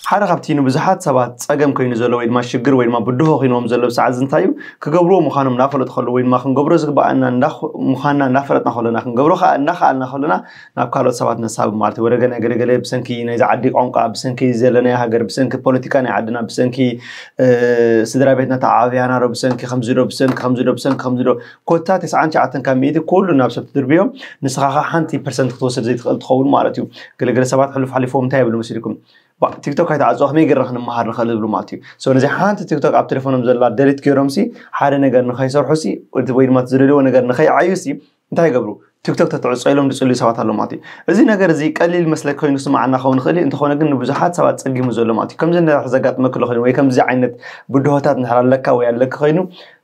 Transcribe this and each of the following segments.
ሓደ ካብቲ ንብዙሓት ሰባት ጸገም ከይኑ ዘሎ ወይ ድማ ሽግር ወይ ድማ ብድሆ ኪንዎም ዘሎ ብሰዓት እዚ እንታይ እዩ ክገብርዎ ምዃኖም እናፈለጡ ከለዉ ወይ ድማ ክንገብሮ ዝግብኣና እንዳ ምዃንና እናፈለጥና ከሎና ክንገብሮ ከኣ እናኸኣልና ከሎና ናብ ካልኦት ሰባት ነሳብብ ማለት እዩ ወደገ ናይ ገለ ገለ ብሰንኪ ናይዚ ዓዲ ቋንቋ ብሰንኪ ዘለናዮ ሃገር ብሰንኪ ፖለቲካ ናይ ዓድና ብሰንኪ ስድራ ቤትና ተዓባብያና ዶ ብሰንኪ ከምዚ ዶ ብሰንኪ ከምዚ ዶ ብሰንኪ ከምዚ ዶ ኮታ ተስዓን ትሽዓተን ካብ ሚእቲ ኩሉ ናብ ሰብ ትድርብዮ ንስኻ ኸ ሓንቲ ፐርሰንት ክትወስድ ዘይትኽእል ትኸውን ማለት እዩ ገለገለ ሰባት ሕሉፍ ሓሊፎም እንታይ ይብሉ መሲልኩም ቲክቶክ ኣይተዓፅዋ ከመይ ገይርና ክንመሃር ንኽእል ዝብሉ ማለት እዩ ሶ ነዚ ሓንቲ ቲክቶክ ኣብ ቴሌፎኖም ዘላ ደሊት ገይሮም ሲ ሓደ ነገር ንኸይሰርሑ ሲ ወይ ድማ ዝደልዎ ነገር ንኸይዓዩ ሲ እንታይ ይገብሩ ቲክቶክ ተትዕጾ ኢሎም ዝጽልዩ ሰባት ኣለዉ ማለት እዩ። እዚ ነገር እዚ ቀሊል መስለ ኮይኑ ስምዓና ክኸውን ይኽእል እዩ፣ እንተኾነ ግን ንብዙሓት ሰባት ጸጊሙ ዘሎ ማለት እዩ። ከምዚ እንድሕር ዘጋጥመኪ ኣሎ ኮይኑ ወይ ከምዚ ዓይነት ብድሆታት እንድሕር ኣለካ ወይ ኣለኪ ኮይኑ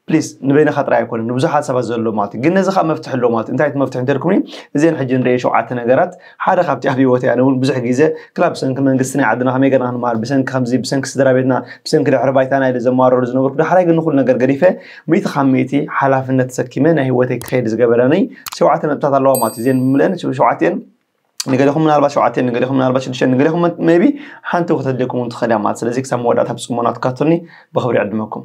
ፕሊስ ንበይንኻ ጥራይ ኣይኮነን ንብዙሓት ሰባት ዘሎ ማለት እዩ። ግን ነዚ ከኣ መፍትሒ ኣለዎ ማለት እዩ። እንታይ እቲ መፍትሒ እንተልኩምኒ እዘን ሕጂ ንርእየን ሸውዓተ ነገራት ሓደ ካብቲ ኣብ ሂወተይ ኣነ ውን ብዙሕ ግዜ ክላ ብሰንኪ መንግስቲ ናይ ዓድና ከመይ ገርና ክንመሃር ብሰንኪ ከምዚ ብሰንኪ ስድራቤትና ብሰንኪ ድሕሪ ባይታና ኢለ ዘማርረሉ ዝነበርኩ ዳሕራይ ግን ንኩሉ ነገር ገዲፈ ሚእቲ ካብ ሚእቲ ሓላፍነት ተሰኪመ ናይ ሂወተይ ክከይድ ዝገበረኒ ሸውዓተ ነጥብታት ኣለዋ ማለት እዩ እዚኤን ብምልኤን ሸውዓቲኤን ንገሌኹም ምናልባት ሸውዓቲኤን ንገሌኹም ምናልባት ሽዱሽቲኤን ንገሌኹም ሜይቢ ሓንቲ ከተድልየኩም ውን ትኽእል እያ ማለት ስለዚ ክሳብ መወዳእታ ብጽሞና ትካቱኒ ብኽብሪ ይዕድመኩም።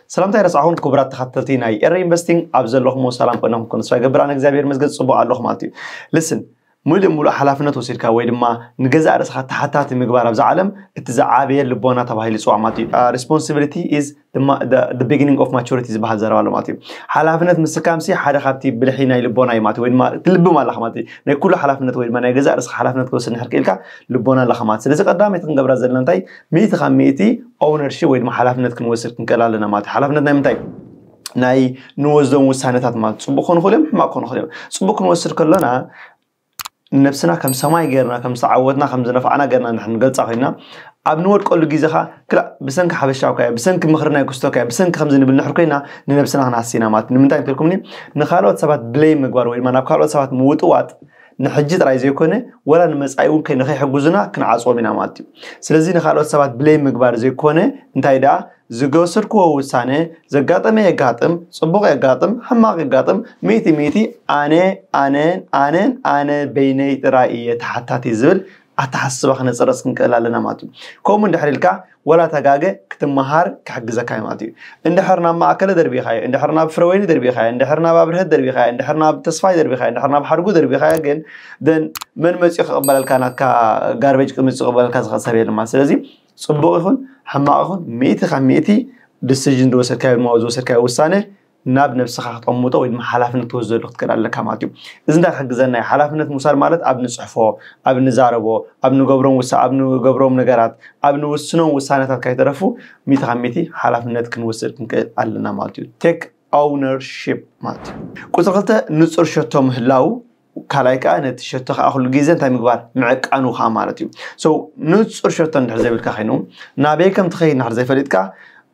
ሰላምታ ኣይረሳዕኹን ክቡራት ተኸታተልቲ ናይ ኤረ ኢንቨስቲንግ ኣብ ዘለኹሞ ሰላም ኮይነ ክንኮን ተስፋ ይገብር ኣነ እግዚኣብሔር መስገን ፅቡቅ ኣለኹ ማለት እዩ ልስን ሙሉእ ሙሉእ ሓላፍነት ወሲድካ ወይ ድማ ንገዛእ ርእስኻ ተሓታቲ ምግባር ኣብዛ ዓለም እቲ ዝዓበየ ልቦና ተባሂሉ ይፅዋዕ ማለት እዩ ሪስፖንሲቢሊቲ ኢዝ ቢግኒንግ ኦፍ ማቹሪቲ ዝበሃል ዘረባ ኣሎ ማለት እዩ ሓላፍነት ምስካምሲ ሓደ ካብቲ ብልሒ ናይ ልቦና እዩ ማለት ወይ ድማ ትልብም ኣለኻ ማለት እዩ ናይ ኩሉ ሓላፍነት ወይ ድማ ናይ ገዛእ ርእስኻ ሓላፍነት ክወስድ ንሕር ክኢልካ ልቦና ኣለኻ ማለት ስለዚ ቀዳመይቲ ክንገብራ ዘለና እንታይ ሚእቲ ካብ ሚእቲ ኦውነርሺፕ ወይ ድማ ሓላፍነት ክንወስድ ክንክእል ኣለና ማለት እዩ ሓላፍነት ናይ ምንታይ ናይ ንወስዶም ውሳነታት ማለት ፅቡቅ ክኾኑ ይኽእሉ እዮም ሕማቅ ክኾኑ ይኽእሉ እዮም ፅቡቅ ክንወስድ ከሎና ነብስና ከም ሰማይ ገርና ከም ዝተዓወትና ከም ዝነፋዕና ገርና ንሕን ገልጻ ኮይና ኣብ ንወድቀሉ ግዜ ኸዓ ክላእ ብሰንኪ ሓበሻዊ ካያ ብሰንኪ ምኽሪ ናይ ክስቶ ካያ ብሰንኪ ከምዚ ንብል ንሕር ኮይና ንነብስና ክንሃስና ማለት ንምንታይ እንተልኩምኒ ንካልኦት ሰባት ብለይ ምግባር ወይ ድማ ናብ ካልኦት ሰባት ምውጥዋጥ ንሕጂ ጥራይ ዘይኮነ ወላ ንመጻኢ እውን ንኸይሕግዙና ክንዓጽዎም ኢና ማለት እዩ። ስለዚ ንኻልኦት ሰባት ብሌም ምግባር ዘይኮነ እንታይ ደኣ ዝገወሰድክዎ ውሳነ ዘጋጠመ የጋጥም ጽቡቕ የጋጥም ሕማቕ የጋጥም ሚእቲ ሚእቲ ኣነ ኣነን ኣነን ኣነ በይነይ ጥራይ እየ ተሓታቲ ዝብል ኣተሓሳስባ ክነጽረጽ ክንክእል ኣለና ማለት እዩ። ከምኡ እንድሕር ኢልካ ወላ እታ ጋገ ክትመሃር ክሕግዘካ እዩ ማለት እዩ። እንድሕር ናብ ማእከለ ደርቢኻዮ፣ እንድሕር ናብ ፍረወይኒ ደርቢኻዮ፣ እንድሕር ናብ ኣብርሀት ደርቢኻዮ፣ እንድሕር ናብ ተስፋይ ደርቢኻዮ፣ እንድሕር ናብ ሓድጉ ደርቢኻዮ ግን then መን መጺኡ ክቕበለልካ ናትካ ጋርበጅ ክምጽእ ክቕበለልካ ዝኽእል ሰብ የለን ማለት ስለዚ ጽቡቕ ይኹን ሕማቕ ይኹን ሚእቲ ካብ ሚእቲ ዲሲዥን ዝወሰድካዮ ድማ ዝወሰድካዮ ውሳነ ናብ ነብስኻ ክትቕምጦ ወይ ድማ ሓላፍነት ክትወስደሉ ክትክእል ኣለካ ማለት እዩ። እዚ እንታይ ክሕግዘና እዩ? ሓላፍነት ምውሳድ ማለት ኣብ ንጽሕፎ፣ ኣብ ንዛረቦ፣ ኣብ ንገብሮም ውሳ ኣብ ንገብሮም ነገራት፣ ኣብ ንውስኖም ውሳነታት ካይተረፉ ሚእቲ ካብ ሚእቲ ሓላፍነት ክንወስድ ክንክእል ኣለና ማለት እዩ። Take Ownership ማለት እዩ። ቁጽሪ ክልተ ንጹር ሸቶ ምህላው፣ ካልኣይ ከኣ ነቲ ሸቶ ከኣ ኩሉ ግዜ እንታይ ምግባር ምዕቃኑ ከኣ ማለት እዩ። So ንጹር ሸቶ እንድሕር ዘይብልካ ኮይኑ ናበይ ከም ትኸይድ እንድሕር ዘይፈሊጥካ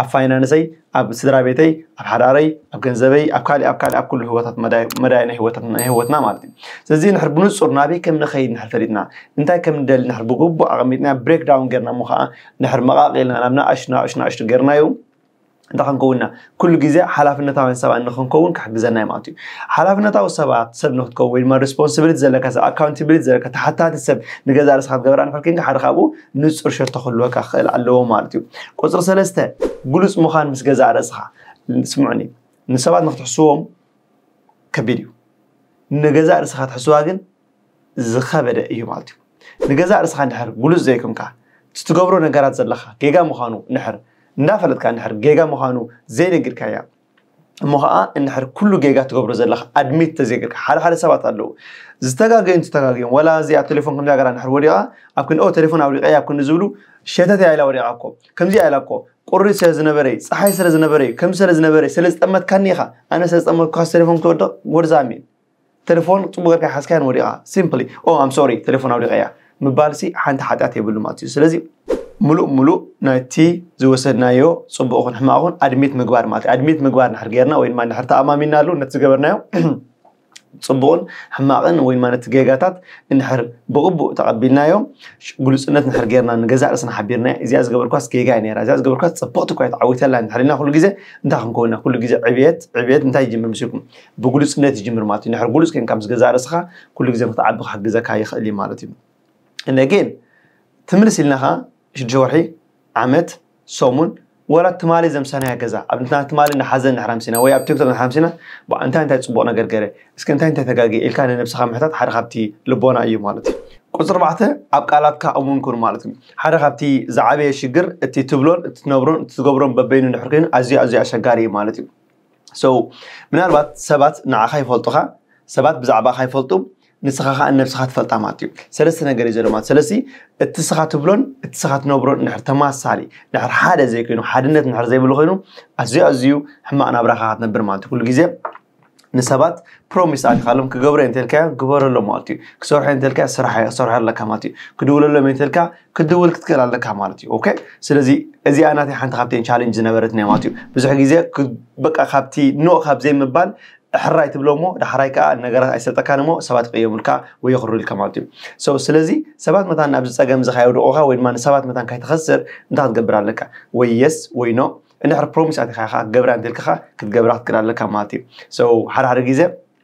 ኣብ ፋይናንሰይ፣ ኣብ ስድራ ቤተይ፣ ኣብ ሓዳረይ፣ ኣብ ገንዘበይ፣ ኣብ ካልእ ኣብ ካልእ ኣብ ኩሉ ህይወታት መዳይ መዳይ ናይ ህይወታት ናይ ህይወትና ማለት እዩ። ስለዚ ንድሕር ብንጹር ናበይ ከም ንኸይድ ንድሕር ፈሊጥና እንታይ ከም ንደሊ ንድሕር ብግቡእ ኣቐሚጥና ብሬክ ዳውን ጌርና እሞ ከኣ ንድሕር መቓቒልና ናብ ንኣሽቱ ንኣሽቱ ንኣሽቱ ጌርናዮ እንታይ ክንከውንና ኩሉ ግዜ ሓላፍነታውያን ሰባት ንክንከውን ክሕግዘና እዩ ማለት እዩ ሓላፍነታዊ ሰባት ሰብ ንክትከውን ወይ ድማ ሪስፖንሲቢሊቲ ዘለካ ሰብ ኣካውንቲቢሊቲ ዘለካ ተሓታቲ ሰብ ንገዛ ርስካ ክትገብራ ንክል ሓደ ካብኡ ንጹር ሸቶ ክህልወካ ክኽእል ኣለዎ ማለት እዩ። ቁጽሪ ሰለስተ፣ ግሉጽ ምዃን ምስ ገዛእ ርእስኻ። ስምዑኒ፣ ንሰባት ንኽትሕስዎም ከቢድ እዩ። ንገዛእ ርእስኻ ትሕስዋ ግን ዝኸበደ እዩ ማለት እዩ። ንገዛእ ርእስኻ እንድሕር ግሉጽ ዘይኮንካ፣ እቲ ትገብሮ ነገራት ዘለካ ጌጋ ምዃኑ እንድሕር እንዳፈለጥካ እንድሕር ጌጋ ምዃኑ ዘይነጊርካያ፣ እሞ ከዓ እንድሕር ኩሉ ጌጋ ትገብሮ ዘለካ ኣድሚት ተዘይገርካ ሓደ ሓደ ሰባት ኣለዉ ዝተጋገዩን ዝተጋገዩን ወላ እዚ ኣብ ቴሌፎን ከምዚ ገራ እንድሕር ወዲቃ ኣብ ክንኦ ቴሌፎን ኣውሊቀ ኣብ ክንዲ ዝብሉ ሸተት ኢላ ወዲቃ እኮ ከምዚ ኢላ እኮ ቁሪ ስለ ዝነበረ እዩ ፀሓይ ስለ ዝነበረ እዩ ከምዚ ስለ ዝነበረ ስለ ዝጠመትካኒ ኢኻ ኣነ ስለ ዝጠመትኩካ ቴሌፎን ክወድቕ ጎርዛሚ ተለፎን ጽቡቅ ገርካ ሓዝካያን ወዲቃ ሲምፕሊ ኦ ኣም ሶሪ ተለፎን ኣውዲቀያ ምባልሲ ሓንቲ ሓጥያት የብሉ ማለት እዩ ስለዚ ምሉእ ምሉእ ናይቲ ዝወሰድናዮ ጽቡቅ ኹን ሕማቅ ኹን ኣድሚት ምግባር ማለት እዩ ኣድሚት ምግባር ንሕር ጌርና ወይ ድማ ንሕር ተኣማሚናሉ ነቲ ዝገበርናዮ ጽቡቕን ሕማቕን ወይ ድማ ነቲ ጌጋታት እንድሕር ብቕቡእ ተቐቢልናዮ ግሉጽነት ንድሕር ጌርና ንገዛእ ርእስና ሓቢርና እዚኣ ዝገበርኳስ ጌጋ እያ ነይራ እዚኣ ዝገበርኳስ ጽብቕቲ እኳ ተዓዊተላ ንድሕሪና ኩሉ ግዜ እንታይ ክንከውና ኩሉ ግዜ ዕብየት ዕብየት እንታይ ይጅምር ምስልኩም ብግሉጽነት ይጅምር ማለት እዩ ንድሕር ግሉጽ ኮንካ ምስ ገዛ ርእስኻ ኩሉ ግዜ ክትዓቢ ክሕግዘካ ይኽእል እዩ ማለት እዩ እነጌን ትምልስ ኢልና ኸዓ ሽዱሽተ ወርሒ ዓመት ሰሙን ወላ ትማሊ ዘምሰናያ ገዛ ኣብ ንትና ትማሊ ንሓዘን ንሕራምሲና ወይ ኣብ ቲክቶክ ንሕራምሲና እንታይ እንታይ ፅቡቕ ነገር ገረ እስከ እንታይ እንታይ ተጋጊ ኢልካ ንነብስኻ ምሕታት ሓደ ካብቲ ልቦና እዩ ማለት እዩ ቁፅሪ ኣርባዕተ ኣብ ቃላትካ እሙን ኩን ማለት እዩ ሓደ ካብቲ ዝዓበየ ሽግር እቲ ትብሎን እትነብሮን እትገብሮን በበይኑ ንሕር ኮይኑ ኣዝዩ ኣዝዩ ኣሸጋሪ እዩ ማለት እዩ so ምናልባት ሰባት ንዓኻ ይፈልጡኻ ሰባት ብዛዕባኻ ይፈልጡ ንስኻ ከዓ ነብስኻ ትፈልጣ ማለት እዩ ሰለስተ ነገር እዩ ዘሎ ማለት ስለዚ እቲ ስኻ ትብሎን እቲ ስኻ ትነብሮን እንድሕር ተማሳሊ እንድሕር ሓደ ዘይኮይኑ ሓድነት እንድሕር ዘይብሉ ኮይኑ ኣዝዩ ኣዝዩ ሕማቕ ናብራኻ ክትነብር ማለት እዩ ኩሉ ግዜ ንሰባት ፕሮሚስ ኣልካሎም ክገብረ እንተልካዮ ግበረሎ ማለት እዩ ክሰርሖ እንተልካ ስራሕ ክሰርሖ ኣለካ ማለት እዩ ክድውለሎም እንተልካ ክትድውል ክትክእል ኣለካ ማለት እዩ ኦኬ ስለዚ እዚኣ ናተይ ሓንቲ ካብተን ቻሌንጅ ዝነበረት ናይ ማለት እዩ ብዙሕ ግዜ በቃ ካብቲ ኖ ካብ ዘይምባል ሕራይ ትብሎ እሞ ዳሕራይ ከዓ ነገራት ኣይሰልጠካን እሞ ሰባት ይቅየሙልካ ወይ የኽርዩልካ ማለት እዩ ሰው ስለዚ ሰባት መታን ኣብዚ ፀገም እዚ ካየውድቑኻ ወይ ድማ ንሰባት መታን ካይትኸስር እንታይ ክትገብር ኣለካ ወይ የስ ወይ ኖ እንድሕር ፕሮሚስ ኣቲኻ ኢኻ ክትገብራ እንተልካ ክትገብራ ክትክእል ኣለካ ማለት እዩ ሰው ሓደ ሓደ ግዜ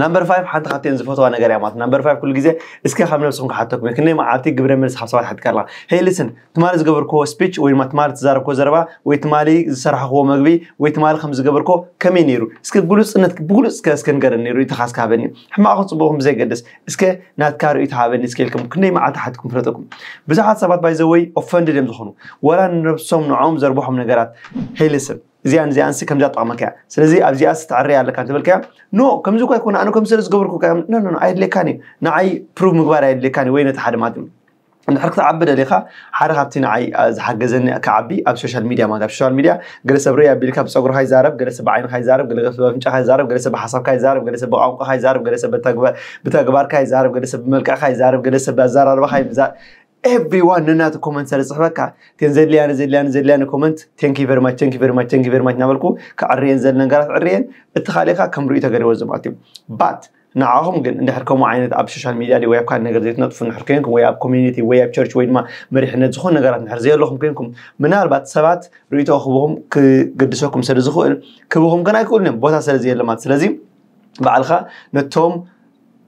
ናምበር ፋይቭ ሓንቲ ካብተን ዝፈትዋ ነገር እያ ማለት ናምበር ፋይቭ ኩሉ ግዜ እስከ ካብ ነብስኩም ክሓተኩም እየ ክንደይ መዓልቲ ግብረ መልሲ ካብ ሰባት ሓትካ ኣለካ ሄይ ልስን ትማሊ ዝገበርክዎ ስፒች ወይ ድማ ትማሊ ዝዛረብክዎ ዘረባ ወይ ትማሊ ዝሰራሕክዎ መግቢ ወይ ትማሊ ከም ዝገበርኮ ከመይ ነይሩ እስከ ግሉጽነት ብግሉጽ እስከ እስከ ንገረኒ ነይሩ ኢትኻ እስከ ሃበኒ ሕማቕ ጽቡቕኩም ብዘይገድስ እስከ ናትካ ርእይቶ ሃበኒ እስከ ኢልኩም ክንደይ መዓልቲ ሓትኩም ፍለጠኩም ብዙሓት ሰባት ባይዘወይ ኦፈንድድ እዮም ዝኾኑ ወላ ንነብሶም ንዖም ዘርብሖም ነገራት ሄይ ልስን እዚኣን እዚኣንሲ ከምዛ ጠቕመካ እያ ስለዚ ኣብዚኣስ ተዕረይ ኣለካ እንተበልካያ ኖ ከምዚ እኳ ኣይኮነ ኣነ ከም ስለ ዝገበርኩካ ኖኖ ኣየድልየካን እዩ ንዓይ ፕሩቭ ምግባር ኣየድልየካን እዩ ወይ ነቲ ሓደ ማለት እንድሕር ክትዓቢ ደሊኻ ሓደ ካብቲ ንዓይ ዝሓገዘኒ ክዓቢ ኣብ ሶሻል ሚድያ ማለት ኣብ ሶሻል ሚድያ ገለ ሰብ ረይ ኣቢልካ ብፀጉርካ ይዛረብ ገለ ሰብ ብዓይንካ ይዛረብ ገለ ሰብ ብኣፍንጫካ ይዛረብ ገለ ሰብ ብሓሳብካ ይዛረብ ገለ ሰብ ብቋንቋካ ይዛረብ ገለ ሰብ ብተግባርካ ይዛረብ ገለ ሰብ ብመልክዕካ ይዛረብ ገለ ሰብ ብኣዘራርባካ ይዛረብ ኤቭሪዋን ነናቱ ኮመንት ስለ ዝፅሕፈካ ግን ዘድልያኒ ዘድልያኒ ዘድልያኒ ኮመንት ቴንኪ ቨሪ ማች ቴንኪ ቨሪ ማች ቴንኪ ቨሪ ማች እናበልኩ ክዕርየን ዘለ ነገራት ዕርየን እቲ ካልእካ ከም ርእዩ ተገሪቦ ዘማት እዩ ባት ንዓኹም ግን እንድሕር ከምኡ ዓይነት ኣብ ሶሻል ሚድያ ወይ ኣብ ካልእ ነገር ዘይትነጥፉ እንድሕር ኮንኩም ወይ ኣብ ኮሚኒቲ ወይ ኣብ ቸርች ወይ ድማ መሪሕነት ዝኾኑ ነገራት እንድሕር ዘየለኹም ኮንኩም ምናልባት ሰባት ርእቶ ክብኹም ክገድሰኩም ስለ ዝኽእል ክብኹም ግን ኣይክእሉን እዮም ቦታ ስለ ዘየለ ማለት ስለዚ ባዕልካ ነቶም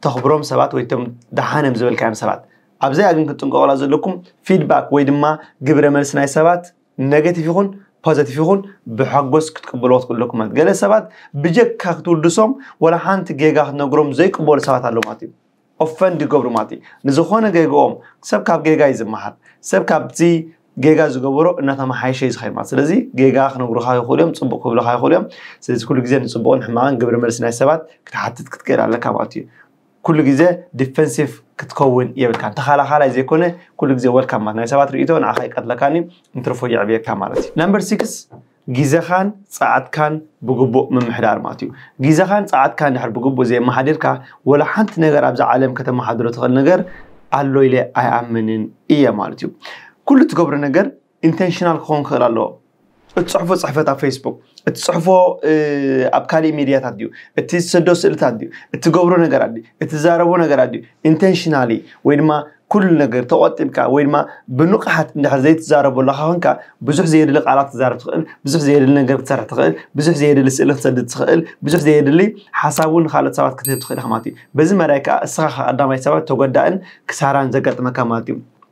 ተኽብሮም ሰባት ወይ ቶም ደሓን እዮም ዝበልካዮም ሰባት ኣብዚኣ ግን ክትጥንቀቑላ ዘለኩም ፊድባክ ወይ ድማ ግብረ መልሲ ናይ ሰባት ነገቲቭ ይኹን ፖዘቲቭ ይኹን ብሓጎስ ክትቅበልዎ ክትክእሉ ኣለኩም ማለት ገለ ሰባት ብጀካ ክትውድሶም ወላ ሓንቲ ጌጋ ክትነግሮም ዘይቅበሉ ሰባት ኣለዉ ማለት እዩ ኦፈንድ ይገብሩ ማለት እዩ ንዝኾነ ጌግኦም ሰብ ካብ ጌጋ እዩ ዝመሃር ሰብ ካብቲ ጌጋ ዝገበሮ እናተመሓየሸ እዩ ዝኸይድ ማለት ስለዚ ጌጋ ክነግሩኻ ይኽእሉ እዮም ፅቡቕ ክብልኻ ይኽእሉ እዮም ስለዚ ኩሉ ግዜ ንፅቡቕን ሕማቕን ግብረ መልሲ ናይ ሰባት ክትሓትት ክትክእል ኣለካ ማለት እዩ ኩሉ ግዜ ዲፈንሲቭ ክትከውን የብልካን ተኻላኻላይ ዘይኮነ ኩሉ ግዜ ወልካም ማለት ናይ ሰባት ርእይቶ ንዓኻ ኣይቀትለካን እዩ እንትርፎ የዕብየካ ማለት እዩ ነምበር ሲክስ ግዜኻን ጸዓትካን ብግቡእ ምምሕዳር ማለት እዩ ግዜኻን ጸዓትካን ድሕር ብግቡእ ዘየመሓዲርካ ወላ ሓንቲ ነገር ኣብዚ ዓለም ከተመሓድሮ ትኽእል ነገር ኣሎ ኢለ ኣይኣምንን እየ ማለት እዩ ኩሉ ትገብሮ ነገር ኢንተንሽናል ክኸውን ክኽእል ኣለዎ እትፅሕፎ ፅሕፈት ኣብ ፌስቡክ እትፅሕፎ ኣብ ካሊእ ሚድያታት ድዩ እቲ ዝሰዶ ስእልታት ድዩ እትገብሮ ነገራት ድዩ እትዛረቦ ነገራት ድዩ ኢንተንሽናሊ ወይ ድማ ኩሉ ነገር ተቆጢብካ ወይ ድማ ብንቕሓት እንድሕር ዘይትዛረቦ ኣለካ ኮንካ ብዙሕ ዘየድሊ ቃላት ትዛረብ ትኽእል ብዙሕ ዘየድሊ ነገር ክትሰርሕ ትኽእል ብዙሕ ዘየድሊ ስእሊ ክትሰድድ ትኽእል ብዙሕ ዘየድሊ ሓሳብ እውን ንካልኦት ሰባት ክትህብ ትኽእል ኢኻ ማለት እዩ በዚ መዳይ ከዓ እስኻ ቀዳማይ ሰባት ተጎዳእን ክሳራን ዘጋጥመካ ማለት እዩ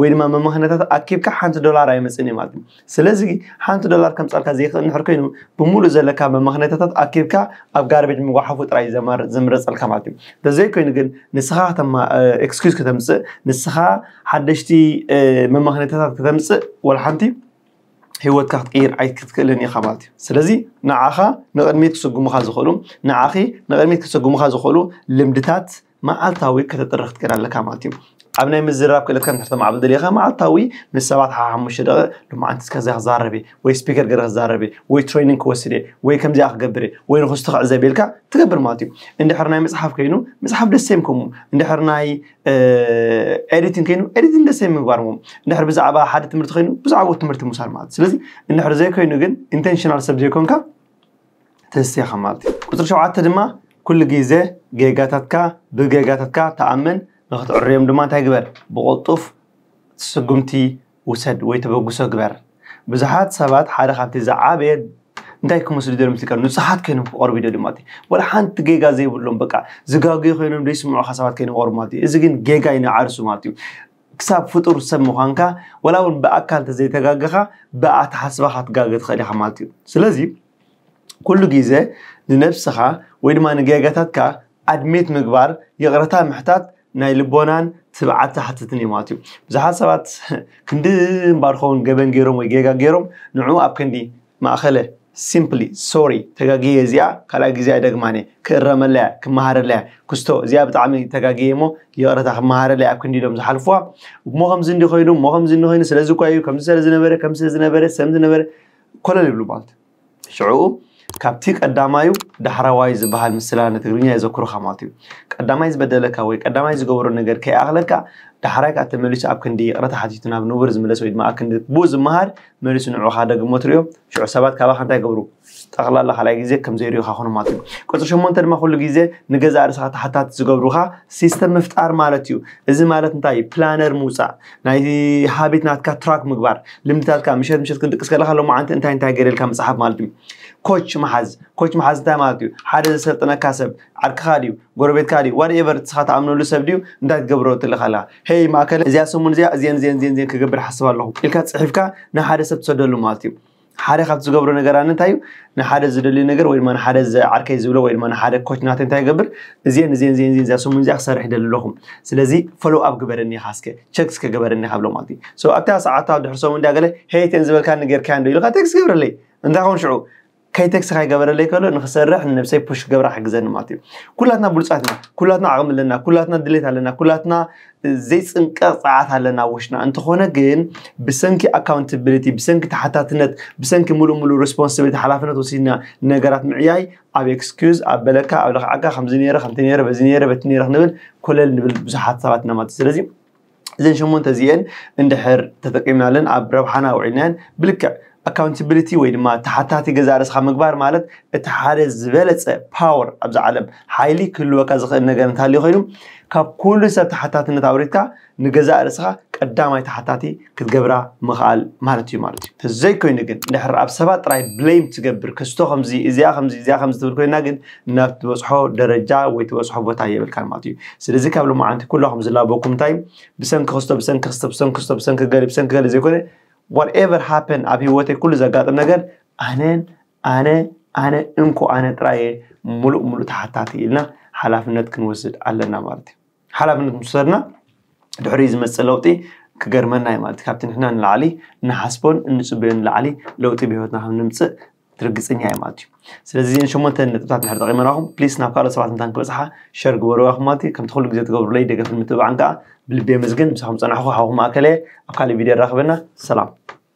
ወይ ድማ መመኽነታት ኣኪብካ ሓንቲ ዶላር ኣይመፅን እዩ ማለት እዩ ስለዚ ሓንቲ ዶላር ከምፃልካ ዘይክእል ንሕር ኮይኑ ብምሉእ ዘለካ መመኽነታታት ኣኪብካ ኣብ ጋርቤጅ ምጓሓፉ ጥራይ ዘማርፅ ዝምረፀልካ ማለት እዩ ተዘይኮይኑ ግን ንስኻ ኤክስኪዝ ከተምፅእ ንስኻ ሓደሽቲ መመኽነታታት ከተምፅእ ወላ ሓንቲ ህይወትካ ክትቅይር ኣይክትክእልን ኢኻ ማለት እዩ ስለዚ ንዓኻ ንቕድሚት ክስጉሙኻ ዝኽእሉ ንዓኺ ንቕድሚት ክስጉሙኻ ዝኽእሉ ልምድታት መዓልታዊ ከተጥርኽ ክትከድ ኣለካ ማለት እዩ ኣብ ናይ ምዝራብ ክእለትካ ከተማዕብል ደሊኻ መዓልታዊ ምስ ሰባት ሓ ሓሙሽተ ደቂቕ ልማዓንቲ እስከ እዚኣ ክዛረብ እየ ወይ ስፒከር ገይረ ክዛረብ እየ ወይ ትሬኒንግ ክወስድ እየ ወይ ከምዚኣ ክገብር እየ ወይ ንክስቶ ክዕዘብ ኢልካ ትገብር ማለት እዩ እንድሕር ናይ መፅሓፍ ኮይኑ መፅሓፍ ደሴም ከምኡ እንድሕር ናይ ኤዲቲንግ ኮይኑ ኤዲቲንግ ደሴም ምግባር ሞ እንድሕር ብዛዕባ ሓደ ትምህርቲ ኮይኑ ብዛዕባ ትምህርቲ ምውሳድ ማለት ስለዚ እንድሕር ዘይኮይኑ ግን ኢንቴንሽናል ሰብ ዘይኮንካ ተሲኻ ማለት እዩ። ቁጽሪ ሸውዓተ ድማ ኩሉ ግዜ ጌጋታትካ ብጌጋታትካ ተኣመን ንክትዕርዮም ድማ እንታይ ግበር ብቕልጡፍ ስጉምቲ ውሰድ ወይ ተበግሶ ግበር። ብዙሓት ሰባት ሓደ ካብቲ ዝዓበየ እንታይ ክመስሉ ደሎም ትልካ ንጹሓት ኮይኖም ክቐርቡ ይደልዩ ማለት እዩ። ወላ ሓንቲ ጌጋ ዘይብሎም በቃ ዝጋገዩ ኮይኖም ዘይስምዑኻ ሰባት ኮይኖም ክቐርቡ ማለት እዩ። እዚ ግን ጌጋ እዩ ንዓርሱ ማለት እዩ። ክሳብ ፍጡር ሰብ ምዃንካ ወላ እውን ብኣካል ተዘይተጋገኻ ብኣተሓስባኻ ትጋገ ትኽእል ኢኻ ማለት እዩ ስለዚ ኩሉ ግዜ ንነብስኻ ወይ ድማ ንጌጋታትካ ኣድሜት ምግባር ይቕረታ ምሕታት ናይ ልቦናን ትብዓት ዝሓትትን እዩ ማለት እዩ ብዙሓት ሰባት ክንዲ እምባር ኸውን ገበን ገይሮም ወይ ጌጋ ገይሮም ንዑ ኣብ ክንዲ ማእኸለ፣ Simply፣ ሶሪ ተጋግየ እዚኣ ካልኣይ ግዜ ኣይደግማን'የ፣ ክእረመላ'የ፣ ክመሃረላ'የ፣ ክስቶ እዚኣ ብጣዕሚ ተጋግየ'ሞ ይቕረታ ክመሃረላ'የ ኣብ ክንዲ ኢሎም ዝሓልፉዋ፣ እሞ ከምዚ እንዲዩ ኮይኑ፣ እሞ ከምዚ እንዲዩ ኮይኑ፣ ስለዚ እኳ'ዩ፣ ከምዚ ሰለዝነበረ፣ ከምዚ ስለዝነበረ፣ ሰምዚ ነበረ፣ ኮለል ይብሉ ማለት ሽዕኡ ካብቲ ቀዳማዩ ዳሕራዋዩ ዝበሃል ምስላ ንትግርኛ የዘክሩኻ ማለት'ዩ። ቀዳማይ ዝበደለካ ወይ ቀዳማይ ዝገበሮ ነገር ከይኣኽለካ ዳሕራይ ከኣ ተመሊሱ ኣብ ክንዲ ይቕረታ ሓቲቱ ናብ ንቡር ዝምለስ ወይ ድማ ኣብ ክንዲ ብኡ ዝመሃር መሊሱ ንዑኻ ደግሞ ትሪኦ ሽዑ ሰባት ካባኻ እንታይ ይገብሩ ጠቕላላ ካልኣይ ግዜ ከም ዘይሪኡኻ ኮኑ ማለት እዩ ቁፅሪ ሸሞንተ ድማ ኩሉ ግዜ ንገዛእ ርእስኻ ተሓታቲ ዝገብሩኻ ሲስተም ምፍጣር ማለት እዩ እዚ ማለት እንታይ እዩ ፕላነር ምውፃእ ናይ ሃቢት ናትካ ትራክ ምግባር ልምድታትካ ምሸት ምሸት ክንድቅስ ከለካ ሎማዓንቲ እንታይ እንታይ ገይረልካ ምፅሓፍ ማለት እዩ ኮች መሓዝ ኮች መሓዝ እንታይ ማለት እዩ ሓደ ዘሰልጥነካ ሰብ ዓርክኻ ድዩ ጎረቤትካ ድዩ ዋት ኤቨር ንስኻ ትኣምነሉ ሰብ ድዩ እንታይ ክትገብሮ ትልእኽ ኣለኻ ሄይ ማእከለ እዚኣ ሰሙን እዚኣ እዚኤን እዚኤን እዚኤን እዚኤን ክገብር ሓስብ ኣለኹ ኢልካ ጽሒፍካ ንሓደ ሰብ ትሰደሉ ማለት እዩ ሓደ ካብቲ ዝገብሮ ነገር ኣነ እንታይ እዩ ንሓደ ዝደልዩ ነገር ወይ ድማ ንሓደ ዓርከይ ዝብሎ ወይ ድማ ንሓደ ኮች ናተ እንታይ ይገብር እዚኤን እዚኤን እዚኤን እዚኤን እዚኣ ሰሙን እዚኣ ክሰርሕ ይደሊ ኣለኹ ስለዚ ፎሎው ኣፕ ግበረኒ ኢኻ እስከ ቸክ እስከ ገበረኒ ኢኻ ብሎ ማለት እዩ ሶ ኣብታ ሰዓታ ድሕሪ ሰሙን እንዳ ገለ ሄይ እተን ዝበልካኒ ጌርካያን ዶ ኢልካ ቴክስት ገብረለይ እንታይ ኮን ሽዑ ከይተክሲ ከይገበረለይ ከሎ ንክሰርሕ ንነብሰይ ፑሽ ክገብራ ክሕግዘኒ ማለት እዩ ኩላትና ብሉፃት ኢና ኩላትና ዓቕሚ ኣለና ኩላትና ድሌት ኣለና ኩላትና ዘይፅንቀቕ ፀዓት ኣለና ውሽና እንተኾነ ግን ብሰንኪ ኣካውንታብሊቲ ብሰንኪ ተሓታትነት ብሰንኪ ሙሉእ ሙሉእ ሬስፖንሲቢሊቲ ሓላፍነት ወሲድና ነገራት ምዕያይ ኣብ ኤክስኪዝ ኣብ በለካ ኣብ ለክዓካ ከምዚ ነይረ ከምቲ ነይረ በዚ ነይረ በቲ ነይረ ክንብል ኮለል ንብል ብዙሓት ሰባት ኢና ማለት እዩ ስለዚ እዘን ሸሞንተ እዚኤን እንድሕር ተጠቂምናለን ኣብ ረብሓና ኣውዒልናየን ብልክዕ ኣካውንታብሊቲ ወይ ድማ ተሓታቲ ገዛ ርእስኻ ምግባር ማለት እቲ ሓደ ዝበለፀ ፓወር ኣብዚ ዓለም ሓይሊ ክህልወካ ዝኽእል ነገር እንተሃልዩ ኮይኑ ካብ ኩሉ ሰብ ተሓታትነት ኣውሪድካ ንገዛእ ርእስኻ ቀዳማይ ተሓታቲ ክትገብራ ምኽኣል ማለት እዩ ማለት እዩ ተዘይኮይኑ ግን ድሕር ኣብ ሰባት ጥራይ ብሌም ትገብር ክስቶ ከምዚ እዚኣ ከምዚ እዚኣ ከምዚ ትብል ኮይና ግን ናብ ትበጽሖ ደረጃ ወይ ትበጽሖ ቦታ የብልካን ማለት እዩ ስለዚ ካብ ልማዓንቲ ኩላኹም ዝላበኩም እንታይ ብሰንኪ ክስቶ ብሰንኪ ክስቶ ብሰንኪ ክስቶ ብሰንኪ ገሊ ብሰንኪ ገሊ ዘይኮነ ዋትኤቨር ሃፐን ኣብ ሂወተይ ኩሉ ዘጋጥም ነገር ኣነን ኣነ ኣነ እንኮ ኣነ ጥራየ ሙሉእ ሙሉእ ተሓታቲ ኢልና ሓላፍነት ክንወስድ ኣለና ማለት እዩ ሓላፍነት ምስ ወሰድና ድሕሪ ዝመፅእ ለውጢ ክገርመና እዩ ማለት ካብቲ ንሕና ንላዕሊ ንሓስቦን እንፅበዮ ንላዕሊ ለውጢ ብሂወትና ከም ንምፅእ ርግጽኛ እየ ማለት እዩ ስለዚ እዚን ሸሞንተ ነጥብታት ድሕር ጠቂመናኹም ፕሊስ ናብ ካልኦት ሰባት እንታን ክበፅሓ ሸር ግበርዋ ኢኹም ማለት እዩ ከምቲ ኩሉ ግዜ ትገብሩለይ ደገፍን ምትብባዕን ከዓ ብልቢ የመስግን ምሳኹም ፀናሕኹ ሓውኹም ኣከለየ ኣብ ካልእ ቪድዮ ራኸበና ሰላም